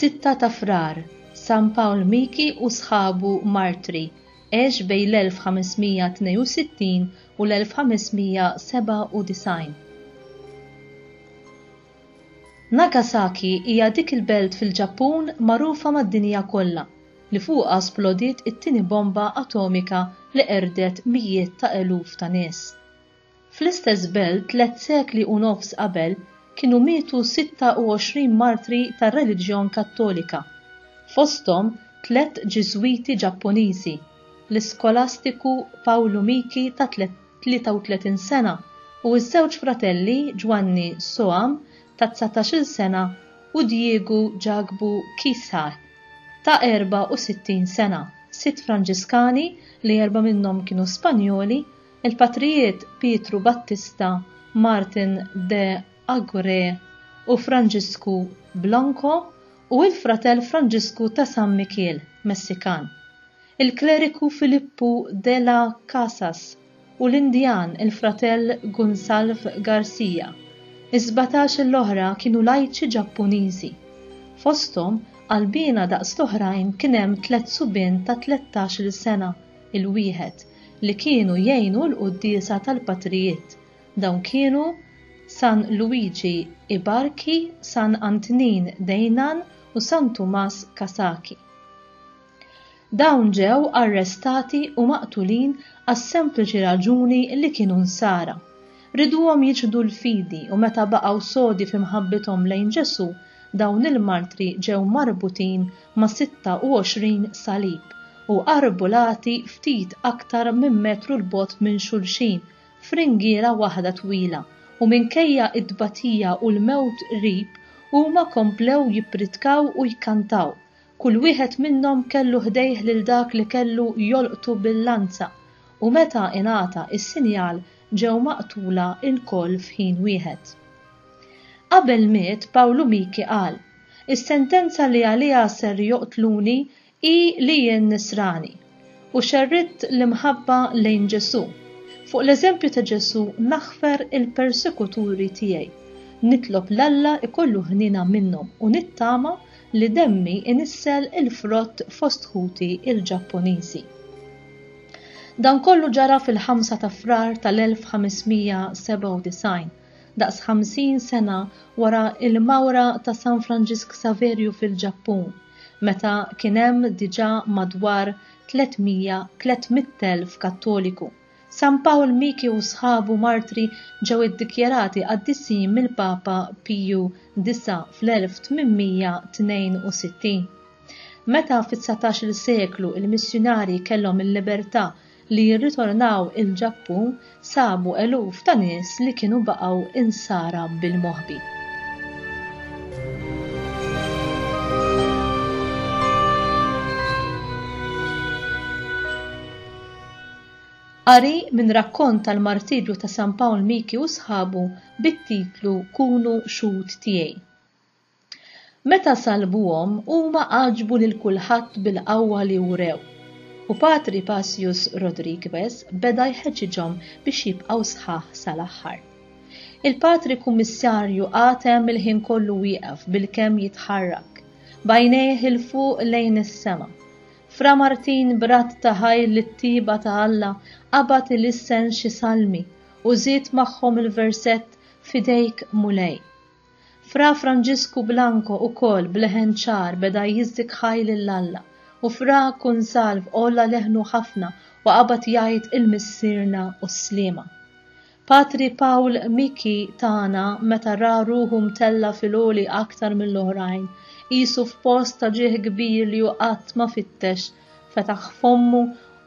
Sitta ta' frar, San Pawl Miki u sħabu martri, għex bejn l-1562 u l-1597. Nagasaki hija dik il-belt fil-Ġappun magħrufa mad-dinja kollha li fuqha splodiet it-tieni bomba atomika li qerdet mijiet ta' eluf ta' nies. Fl-istess belt tliet sekli u nofs qabel kienu mietu 26 martri tar-reliġjon Kattolika, fosthom tliet Ġiżwiti Ġappuniżi, l-iskolastiku Pawlu Miki ta' 33 sena, u ż-żewġ fratelli Ġwanni Soham ta' dsatax-il sena u Diego Jagbu Kisah ta' 64 sena, sitt Franġiskani li erba' minnhom kienu Spanjoli, il-patrijiet Pietru Battista, Martin de Agurre u Franġisku Blanco, u l-fratell Franġisku ta' San Mikiel, Messikan. il-kleriku Filippu de la Casas u l-Indjan il-fratell Gunsalv Garcia. Is-sbatax l-oħra kienu lajċi Ġappuniżi. Fosthom, qalbiena daqs l-oħrajn kien hemm tliet subien ta' tlettax-il sena 'l wieħed li kienu jgħinu l-quddiesa tal-patrijiet. Dawn kienu San Luigi Ibarki, San Antnin Deinan u San Tumas Kasaki. Dawn ġew arrestati u maqtulin għas-sempliċi raġuni li kienu Nsara. Riduhom jiċħdu l-fidi u meta baqgħu sodi fi mħabbithom lejn Ġesù, dawn il-martri ġew marbutin ma' 26 salib u arrbullati ftit aktar minn metru 'l bogħod minn xulxin f'ringiera waħda twila u minkejja t-tbatija u l-mewt qrib huma komplew jippritkaw u jkantaw Kull wieħed minnhom kellu ħdejh lil dak li kellu jolqtu bil-lanza, u meta ingħata s-sinjal ġew maqtula lkoll f'ħin wieħed. Qabel miet Pawlu Miki qal, Is-sentenza li għaliha ser joqtluni hi li jien Nisrani. u xerridt l-imħabba lejn Ġesù. Fuq l-eżempju ta' Ġesù naħfer il-persekuturi tiegħi. Nitlob 'l Alla jkollu ħniena minnhom u nittama li demmi inissel il-frott fost ħuti l-Ġappuniżi. Dan kollu ġara fil-5 ta' Frar tal-1597, daqs 50 sena wara l-mawra ta' San Franġisk Saverju fil-Ġappun. meta kien hemm diġà madwar 300 300,000 Kattoliku. San Pawl Miki u sħabu martri ġew iddikjarati qaddisin mill-Papa Piju Disa' fl-1862. Meta fit-dsatax-il seklu l-missjunarji kellhom il-libertà li jirritornaw il-Ġappun sabu eluf ta' nies li kienu baqgħu insara bil-moħbi. Qari minn rakkont tal-martirju ta' San Pawl Miki u sħabu bit-titlu Kunu Xhud Tiegħi. Meta salbuhom, huma għaġbu lil kulħadd bil-qawwa li wrew, u Patri Pasius Rodrigues beda jħeġġiġhom biex jibqgħu sħaħ sal-aħħar. Il-Patri Kummissarju qatem il-ħin kollu wieqef bilkemm jitħarrak, b'għajnejh 'il fuq lejn is-sema. Fra Martin b'radd ta' ħajr lit-tjieba ta' Alla qabad ilissen xi salmi u żied magħhom il-versett F'idejk Mulej. Fra Franġisku Blanco ukoll b'leħen ċar beda jiżżik ħaj lil Alla, u Fra Kunsalv għolla leħnu ħafna u qabad jgħid il-Missierna u s-Sliema. Patri Paul Miki tagħna meta ra ruħu mtella' fil-għoli aktar mill-oħrajn, qisu f'post ta' ġieħ kbir li hu qatt ma fittex fetaħ fommu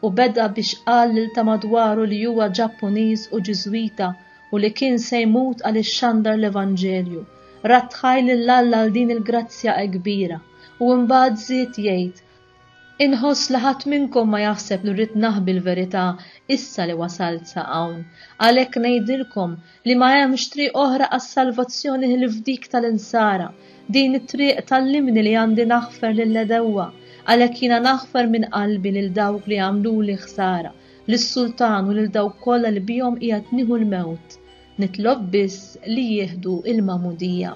u beda biex qal lil ta' madwaru li huwa Ġappuniż u Ġiżwita u li kien se jmut għal ixxandar l-Evanġelju. Rattħaj lil Alla għal din il-grazzja ekbira u imbagħad żied jgħid, Inħoss li ħadd minnkom ma jaħseb li rrid naħbi l-verità issa li wasalt sa hawn. Għalhekk ngħidilkom li ma hemmx triq oħra għas-salvazzjoni ħlief dik tal-insara. Din it-triq tallimni li għandi naħfer lill-għedewwa, għalhekk jiena naħfer minn qalbi lil dawk li għamluli ħsara, lis-sultan u lil dawk kollha li bihom qiegħed nieħu l-mewt. Nitlob biss li jieħdu l-magħmudija.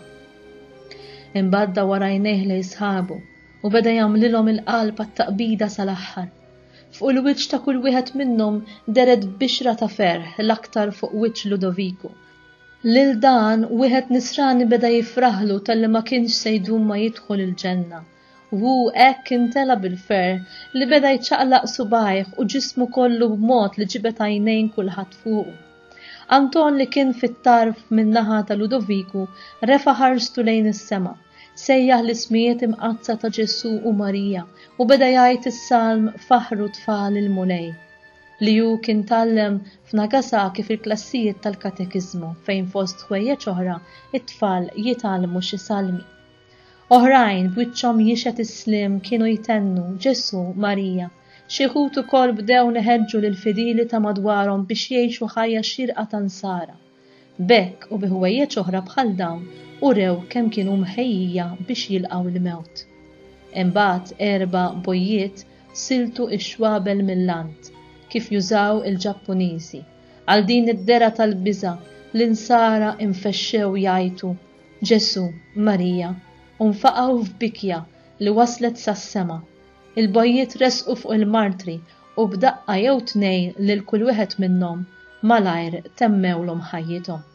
Imbagħad warajnejh lejn sħabu u beda jagħmlilhom il-qalb għat-taqbida sal-aħħar. Fuq il-wiċċ ta' kull wieħed minnhom deret bixra ta' ferħ, l-aktar fuq wiċċ Ludoviku. Lil dan, wieħed nisrani beda jifraħlu talli ma kienx se jdum ma jidħol il-ġenna. Hu hekk intela' bil-ferħ li beda jċaqlaq subgħajh u ġismu kollu b'mod li ġibed għajnejn kulħadd fuqu. Anton li kien fit-tarf min-naħa ta' Ludoviku refa' ħarstu lejn is-sema. sejjaħ l-ismijiet imqaddsa ta' Ġesù u Marija u beda jgħid is-salm Faħħru Tfal il-Mulej, li hu kien tgħallem f'Nagasaki fil-klassijiet tal-katekiżmu fejn fost ħwejjeġ oħra t-tfal jitgħallmu xi salmi. Oħrajn b'wiċċhom jixhed is-sliem kienu jtennu Ġesù, Marija. Xi wħud ukoll bdew neħeġġu lill-fidili ta' madwarhom biex jgħixu ħajja xierqa ta' nsara. B'hekk u bi ħwejjeġ oħra bħal dawn urew kemm kienu mħejjija biex jilqgħu l-mewt. Imbagħad erba' bojjiet siltu x-xwabel mill-għand kif jużaw il-Ġappuniżi. Għal din id-dergħa tal-biża' l-Insara infexxew jgħajtu, Ġesù, Marija, u nfaqgħu f'bikja li waslet sas-sema. Il-bojjiet resqu fuq il-martri u b'daqqa jew tnejn lil kull wieħed minnhom malajr temmewlhom ħajjithom.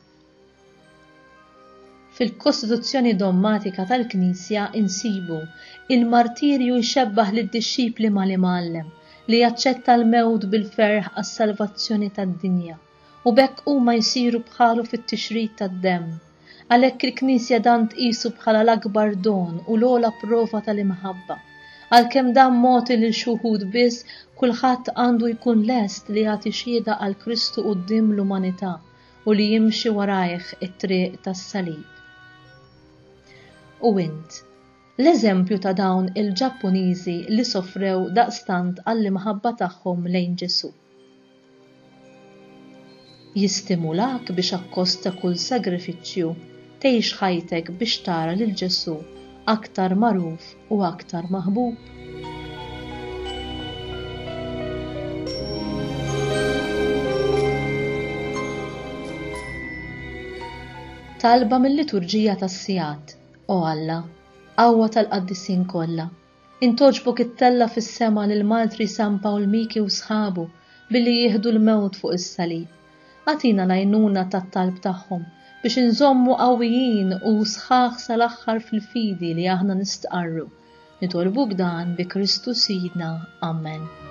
Fil-kostituzzjoni dommatika tal-Knisja insibu il-martirju jxebbah lid-dixxipli mal-Imgħallem li jaċċetta l-mewt bil-ferħ għas-salvazzjoni tad-dinja. u b'hekk huma jsiru bħalu fit-tixrid tad-demm. Għalhekk il-Knisja dan tqisu bħala l-akbar don u l-ogħla prova tal-imħabba. Għalkemm dan mogħti lil xi wħud biss, kulħadd għandu jkun lest li jagħti xhieda għal Kristu quddiem l-umanità u li jimxi warajh it-triq tas-salib. U int, l-eżempju ta' dawn il-Ġappuniżi li sofrew daqstant għall-imħabba tagħhom lejn Ġesù. Jistimulak biex akkost ta' kull sagrifiċċju tgħix ħajtek biex tara lil Ġesù aktar magħruf u aktar maħbub? Talba mil-Liturġija tas-Sigħat, O Alla, qawwa tal-qaddisin kollha, Int għoġbok ittella' fis-sema lil Martri San Pawl Miki u sħabu billi jieħdu l-mewt fuq is-salib. Agħtina l-għajnuna tat-talb tagħhom biex inżommu qawwijin u sħaħ sal-aħħar fil-fidi li aħna nistqarru. Nitolbuk dan bi Kristu Sidna. Amen.